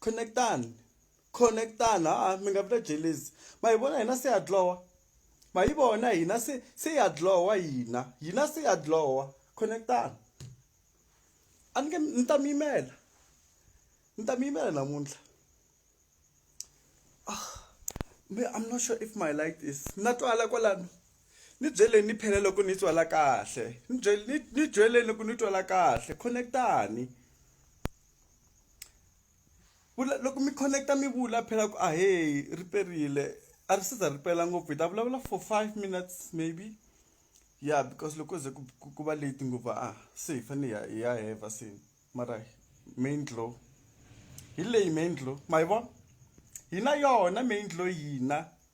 connect-ani connect-ani ha-a mi nga vi na jealous ma hi vona hina se ha dlhowa ma yi vona hina se se ha dlhowa hina hina se ha dlhowa connect-ani a ni nge ni ta mi yimela ni ta mi yimela namuntlha me I'm not sure if my light is na twala kwalano ni byeleni ni phela loko ni twala kahle ni byele ni byeleni loko ni twala kahle connect-ani. vula loko mi connect-a mi vula phela ku ahee ri perile a ri se za ri pela ngopfu hi ta vulavula for five minutes maybe ya because loko ze ku ku ku va late ngopfu a se hi fane hi ya hi ya heva se mara main glow hi leyi main glow ma yi vona hi na yona main glow hina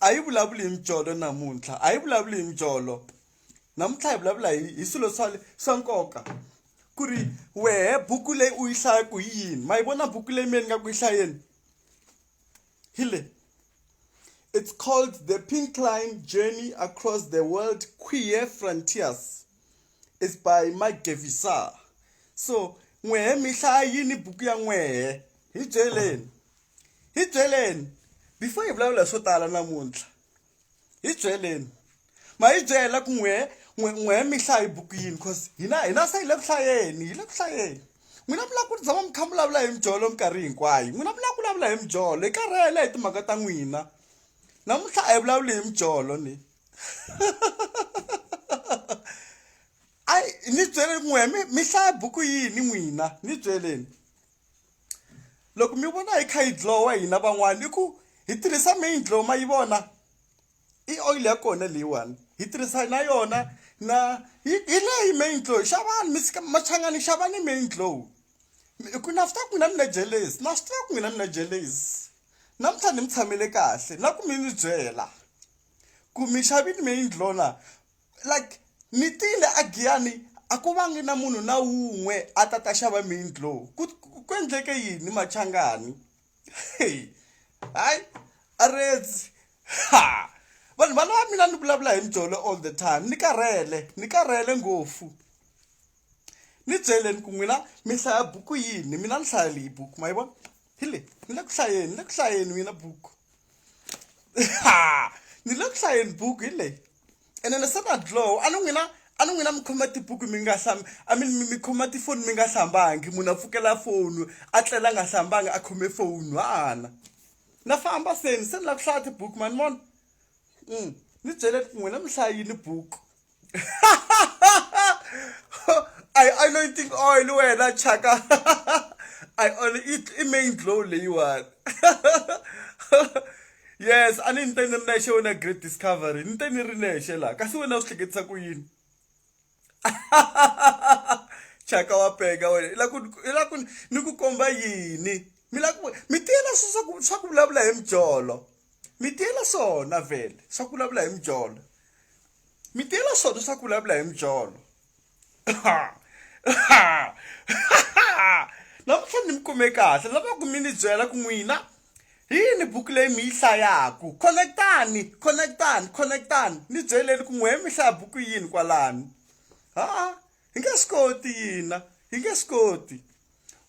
a yi vulavuli hi mijolo namuntlha a yi vulavuli hi mijolo namuntlha hi vulavula hi hi swilo swa swa nkoka ku ri wehe buku leyi u yi hlayaku hi yini ma yi vona buku leyi miyeni nga ku yi hlayeni hi le it's called the pink line journey across the world queer frontiers is by magevisa so n'wehe mi hlaya yini buku ya n'wehe hi byeleni hi byeleni before hi vulavula hi swo tala namuntlha hi byeleni ma hi byela ku n'we n'we n'we mihlayi buku yini because hina hina se hi le ku hlayeni hi le ku hlayeni n'wina mi lava ku tshama mi kha mi vulavula hi mijolo minkarhi hinkwayo n'wina mi lava ku vulavula hi mijolo hi karhele hi timhaka ta n'wina namuntlha a hi vulavuli hi mijolo ni a ni byele n'we mi mi hlaya buku yini n'wina ni byeleni loko mi vona hi kha yi dlowa hina van'wana i ku hi tirhisa main dlow ma yi vona i oil ya kona leyiwani hi tirhisa na yona na hi leyi main dlow xavani mi sika machangani xavani main dlow ku na swi tiva ku n'wina mi na jelesi na swi tiva ku n'wina mi na jelesi namuntlha ni mi tshamele kahle na ku mi ni byela ku mi xavini main dlow na like ni tile a giyani a ku vangi na munhu na wun'we a ta ta xava mindlo ku ku endleke yini machangani hey hayi a redzi ha vanhu va lava mina ni vulavula hi mjolo all the time ni karhele ni karhele ngopfu ni byeleni ku n'wina mi hlaya buku yini mina ni hlaya leyi buku ma yi vona hi le ni le ku hlayeni ni le ku hlayeni wina buku ni le ku hlayeni buku hi leyi ene ni se na dlow a ni n'wina a ni n'wina mi khoma tibuku mi nga hlambi a mi mi khoma tifoni mi nga hlambangi munhu a pfukela foni a tlela a nga hlambangi a khome foni hana na famba seni se ni lava ku hlaya tibuku mani vona ni byele ku n'wina mi hlayini buku a yi anointing oil wena chaka a yi i main glow leyiwani yes a ni ni te ni ri nexe wena great discovery ni te ni ri nexe laha kasi wena u swi hleketisa ku yini chaka wa peka wena i la ku i la ku ni ku komba yini mi la ku mi tiyela swa ku swa ku vulavula hi mijolo mi tiyela swona vhele swa ku vulavula hi mijolo mi tiyela swona swa ku vulavula hi mijolo namuntlha ni mi kume kahle lava ku mi ni byela ku n'wina hi yini buku leyi mi yi hlayaku connectani connectani connectani ni byeleni ku n'wehe mi hlaya buku yini kwalani ha-a hi nge swi koti yina hi nge swi koti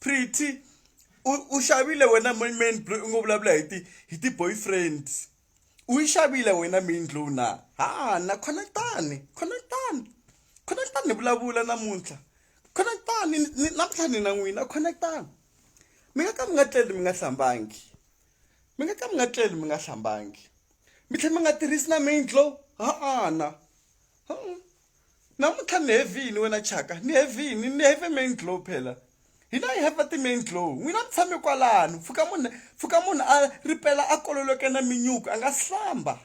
pretty u u xavile wena main main blow u ngo vulavula hi ti hi ti boyfriends u yi xavile wena main glow na ha na khonetani khonetani khonetani ni vulavula namuntlha khonetani namuntlha ni na n'wina khonetani mi nga ka mi nga tleli mi nga hlambangi mi nga ka mi nga tleli mi nga hlambangi mi tlhela mi nga tirhisi na main glow ha-ana Namuntlha ni heavy yini wena Chaka? Ni heavy yini? Ni heavy main glow phela. Hina hi heavy ti main glow. N'wina mi tshame kwalano. Pfuka munhu pfuka munhu a ripela a kololoke na minyuku a nga si hlamba.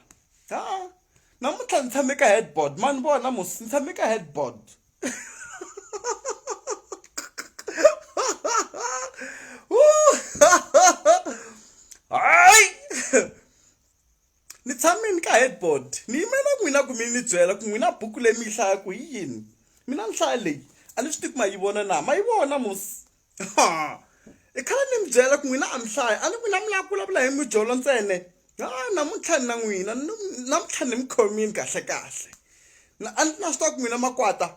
Ha. Namuntlha ni tshame ka headboard ma ni vona mos ni tshame ka headboard. Hayi. ni tshamini ka headboard ni yimela n'wina ku mi ni byela ku n'wina buku leyi mi yi hlayaku hi yini mina nhlaya leyi a ni swi tivi ma yi vona na ma yi vona mos i khale ni mi byela ku n'wina a mi hlaya a ni n'wina mi lava ku vulavula hi mijolo ntsene ha namuntlha ni na n'wina namuntlha ni mi khomini kahle kahle a ni na swi tiva ku n'wina makwata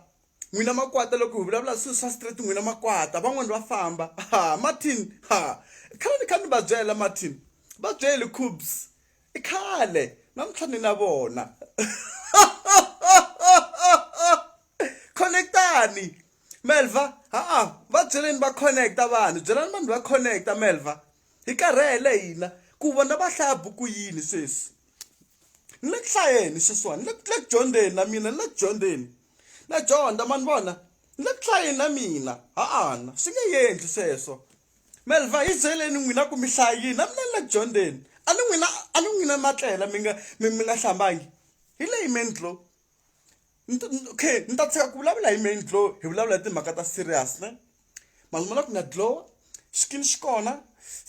n'wina makwata loko hi vulavula swilo swa straight n'wina makwata van'wani va famba ha martin ha khale ni kha ni va byela martin va byeli cubs i khale namuntlha ni na vona connectani melva ha-a va byeleni va connecta vanhu byelani vanhu va connecta melva hi karhele hina ku vona va hlaya buku yini sweswi ni le ku hlayeni sweswiwani ni le ku dyondzeni na mina ni le ku dyondzeni na dyondza ma ni vona ni le ku hlayeni na mina ha-ana swi nge yendli sweswo melva hi byeleni n'wina ku mi hlayini na mina ni le ku dyondzeni a ni n'wina a ni n'wina ma tlela mi nga mi mi nga hlambangi hi leyi mendlo okay ni ta tshika ku vulavula hi mendlo hi vulavula hi timhaka ta serious ne maluma la ku nga dlowa xikini xi kona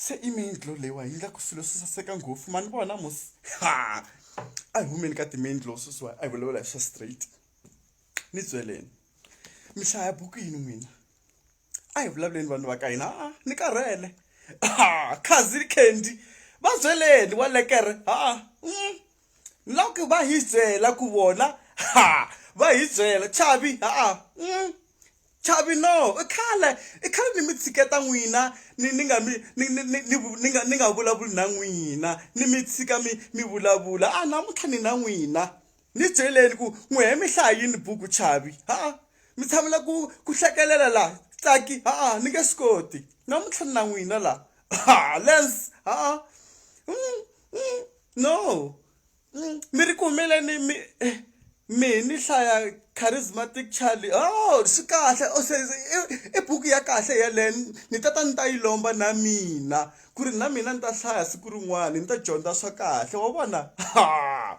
se i main dlo leyiwa yi endlaku swilo swi saseka ngopfu mani vona mos ha a hi humeni ka ti-main dlo sweswiwa a hi vulavula hi swa straight ni byeleni mi hlaya buku yini n'wina a hi vulavuleni vanhu va ka hina a ni karhele ha khazi candy va byeleni wa lekere ha mm. ni lava ku va hi byela ku vona ha va hi byela chavi ha mm. Chavino, i khale i khale ni mi tshiketa n'wina ni ni nga mi ni ni ni ni vu- ni nga ni nga vulavuli na n'wina ni mi tshika mi mi vulavula a namuntlha ni na n'wina ni byeleni ku n'wi he mi hlaya yini buku chavi ha mi tshamela ku ku hlekelela la tsaki ha ni nge swi koti namuntlha ni na n'wina la ha lens ha Mm, mm, no mm, mi ri kumile ni mi eh, mi ni hlaya charismatic charlie oh swi kahle o se i buku ya kahle yeleyo ni ta ta ni ta yi lomba na mina ku ri na mina ni ta hlaya siku rin'wana ni ta dyondza swa kahle wa vona ha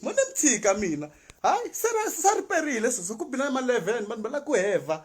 mo ni mi tshika mina hayi se sa riperile sweswo ku bina ma-leven vanhu va lava ku heva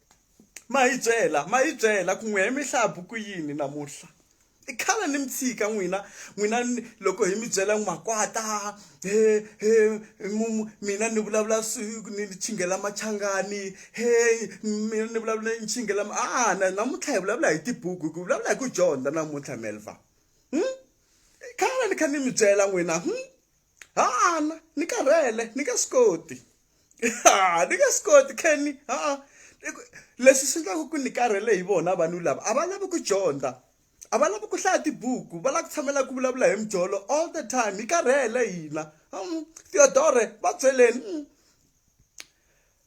Ma hi byela ma hi byela ku n'wehe mi hlaya buku yini namuntlha i khale ni mi tshika n'wina n'wina loko hi mi byela n'wi makwata he he mina ni vulavula ni chinghela machangani he mina ni vulavula ni chinghela a na namuntlha hi vulavula hi tibuku hi ku vulavula hi ku dyondza namuntlha melva hmm? khale ni kha ni mi byela n'wina hmm? ha-ana ni karhele ni nge swi koti ha ni nge swi koti kenny ha-a leswi swi endlaka ku ni karhele hi vona vanhu lava a va lavi ku dyondza a va lavi ku hlaya tibuku va lava ku tshamela ku vulavula hi mijolo all the time hi karhele hina theodore va byeleni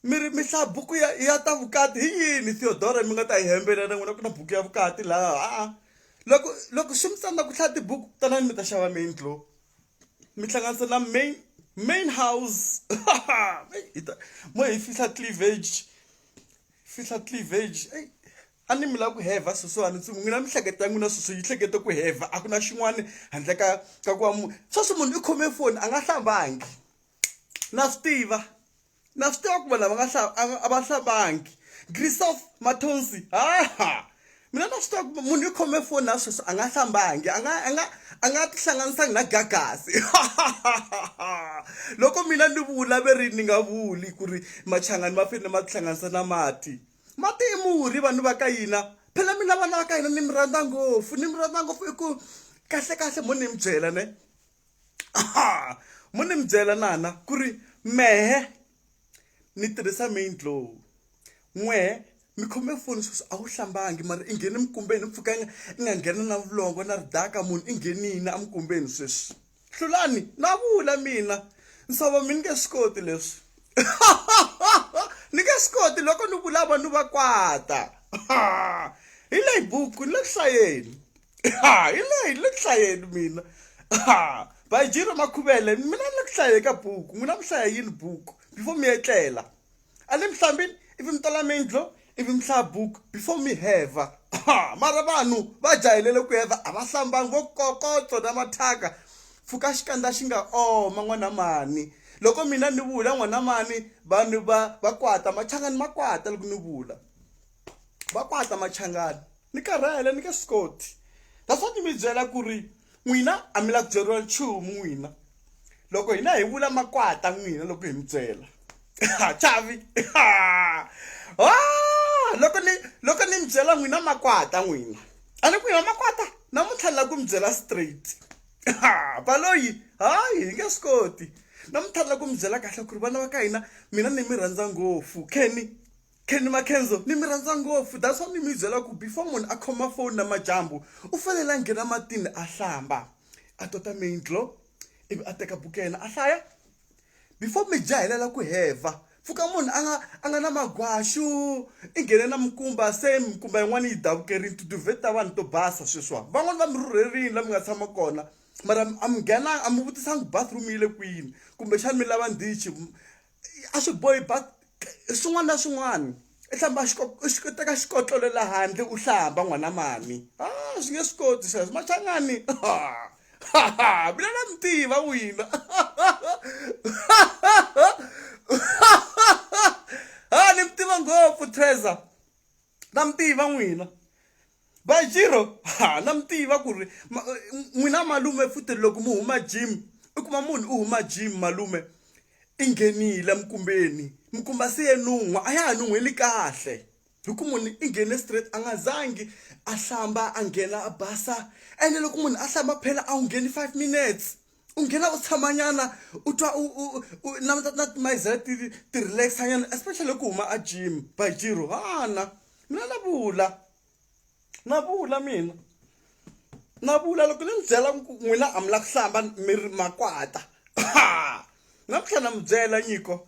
Mi ri mi hlaya buku ya ya ta vukati hi yini Theodora mi nga ta yi hembela na n'wina ku na buku ya vukati laha ha-a. Loko loko swi mi tsandza ku hlaya tibuku tanani mi ta xava main tlo mi hlanganisa na main main house hi ta mo hi fihla cleavage fihla cleavage eyi a ni mi lava ku hevha sweswiwani ntsumi n'wina mihleketa ya n'wina sweswi yi hlekete ku hevha a ku na xin'wana handle ka ka ku va munhu sweswi munhu i khome foni a nga hlambangi na swi tiva na swi tiva ku vanhu lava nga a va hlavangi grisof mathonsi haha mina na swi tiva ku munhu i khome foni na sweswi a nga hlambangi a nga a nga a nga tihlanganisangi na gagasi loko mina ni vula ve ri ni nga vuli ku ri machangani ma fanele ma tihlanganisa na mati mati i murhi vanhu va ka yina phela mina vana va ka hina ni mi rhandza ngopfu ni mi rhandza ngopfu i ku kahlekahle mo ni mi byela ne aha mo ni mi byela nana ku ri mehe ni tirhisa main glow n'wehe mi khome foni sweswi a wu hlambangi mara i nghene mikumbeni mpfhukanga i nga nghena na vulongo na ridaka munhu i nghenini emikumbeni sweswi hlulani na vula mina nsava mi ni nge swi koti leswi ni nge swi koti loko ni vula vanhu va kwata hi leyi buku ni le ku hlayeni ha hi leyi le ku hlayeni mina ha bayijiro makhuvele mina ni le ku hlaye ka buku n'wina mi hlaya yini buku before mi etlela a ni mi hlambini ivi mi tola mindlo ivi mi hlaya buku before mi heva ha mara vanhu va jahilele ku heva a va hlambangi vo kokotso na mathyaka pfuka xikandza xi nga oma n'wana mani loko mina ni vula n'wana mani vanhu va va kwata machangani ma kwata loko ni vula va kwata machangani ni karhele ni ka scoti that's what mi byela ku ri n'wina a mi la ku byeriwa nchumu n'wina loko hina hi vula makwata n'wina loko hi mi byela chavi loko ni loko ni mi byela n'wina makwata n'wina a ni ku hina makwata namuntlha ni la ku mi byela straight baloyi hayi hi nge swi koti namuntlha ni la ku mi byela kahle ku ri vana va ka hina mina ni mi rhandza ngopfu kenny Kenny Makenzo ni mi rhandza ngopfu that's why ni mi byela ku before munhu a khoma phone namajambu u fanele a nghena matini a hlamba a tota main glow ivi a teka buku ya yena a hlaya before mi jahelela ku heva pfuka munhu a nga a nga na magwaxu i nghene na mikumba se mikumba yin'wana yi davukerile tiduvheti ta vanhu to basa sweswiwani van'wani va mi rhurherile la mi nga tshama kona mara a mi nghenanga a mi vutisangi bathroom yi le kwini kumbexani mi lava ndichi a swi bohi ba swin'wana na swin'wana i hlamba u teka xikotlolo la handle u hlamba n'wana mami a ah, swi nge swi koti sweswo machangani mina na mi tiva wina ha ni mi tiva ngopfu treasure na mi tiva n'wina bajiro ha na mi tiva ku ri ma- n'wina malume futhi loko mi huma gym i kuma munhu u huma gym malume i nghenile mikumbeni mikumba se ye nun'wa a ya ha nun'hweli kahle hi ku munhu i nghene straight a nga zangi a hlamba a nghena a basa ene loko munhu a hlamba phela a wu ngheni five minutes u nghena u tshamanyana u twa u u u na na timayizela ti ti relaxa nyana especially ku huma a gym by jiro hana mina na vula na vula mina na vula loko ni mi byela ku n'wina a mi la ku hlamba mi ri makwata na ku tlhela na mi byela nyiko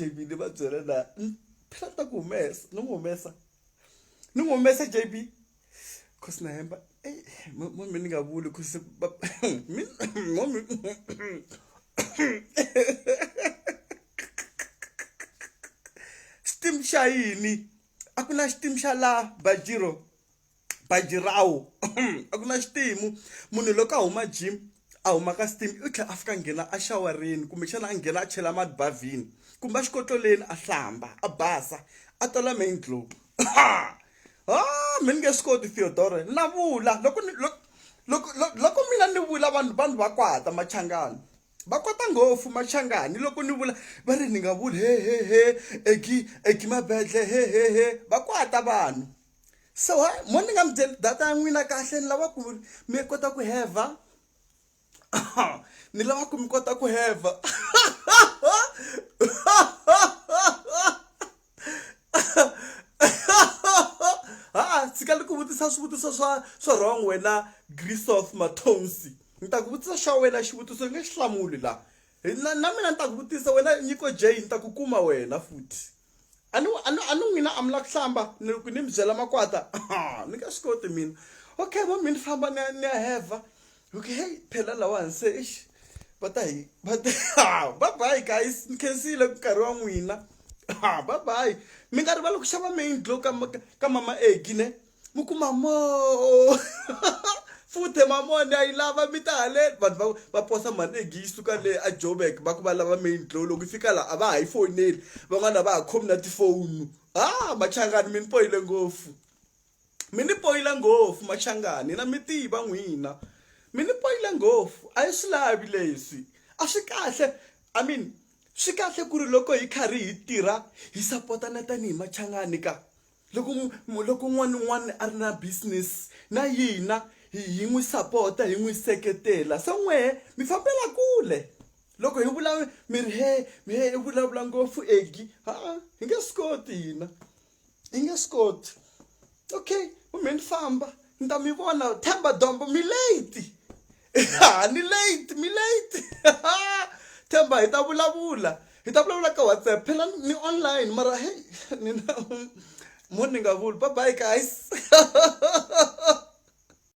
jb ni va byela na phela ta ku humesa ni n'wi humesa ni n'wi humesa jb cause na hemba momi ni nga vuli cause momi xitim xa yini a ku na xitim xa laha bajiro baji rawo a ku na xitimu munhu loko a huma gym a huma ka steam u tlhela a fika nghena a xawarini kumbexana a nghena a chela mati bavhini kumbe a xikotloleni a hlamba a basa a tola main glow ha mi ni nge swi koti theodore na vula loko ni loko loko loko mina ni vula vanhu vanhu va kwata machangani va kota ngopfu machangani loko ni vula va ri ni nga vuli hehehe eki eki mabedle hehehe va kwata vanhu so ha mo ni nga mi byeli data ya n'wina kahle ni lava ku ri mi kota ku hevha ni lava ku mi kota ku hevha ha tshika ni ku vutisa swivutiso swa swa wrong wena grisof mathonsi ni ta ku vutisa xa wena xivutiso ni nge xi hlamuli la na mina ni ta ku vutisa wena nyiko j ni ta ku kuma wena futhi a ni a ni a ni n'wina a mi la ku hlamba ni ku ni mi byela makwata ni nga swi koti mina okay va mi ni famba ni ya ni ya heva okay hey phela lawani se eish va ta hi va ta bye bye guys ni khensile nkarhi wa n'wina bye bye mi nga rivali ku xava main glow ka ka mama Eggie ne mi ku mamo futhe mamo ni a yi lava mi ta haleni vanhu va va posa mali egi yi suka le a jobek va ku va lava main glow loko yi fika laha a va ha yi foyineli van'wana va ha khomi na tifoni ha machangani mi ni poyile ngopfu mi ni poyile ngopfu machangani na mi tiva n'wina mi ni poyile ngopfu a yi swi lavi leswi a swi kahle i mean swi kahle ku ri loko hi karhi hi tirha hi sapotana tanihi machangani ka loko loko un'wana na un'wana a ri na business na yina hi hi n'wi sapota hi n'wi seketela se n'wehe mi fambela kule loko hi vula mi ri he mi he i vulavula ngopfu egi ha-a hi nge swi koti hina hi nge swi koti okay kumbe ni famba ni ta mi vona themba dombo mi late ha ni late mi late themba hi ta vulavula hi ta vulavula ka whatsapp phela ni online mara hey ni na munhu ni nga vuli bye bye guys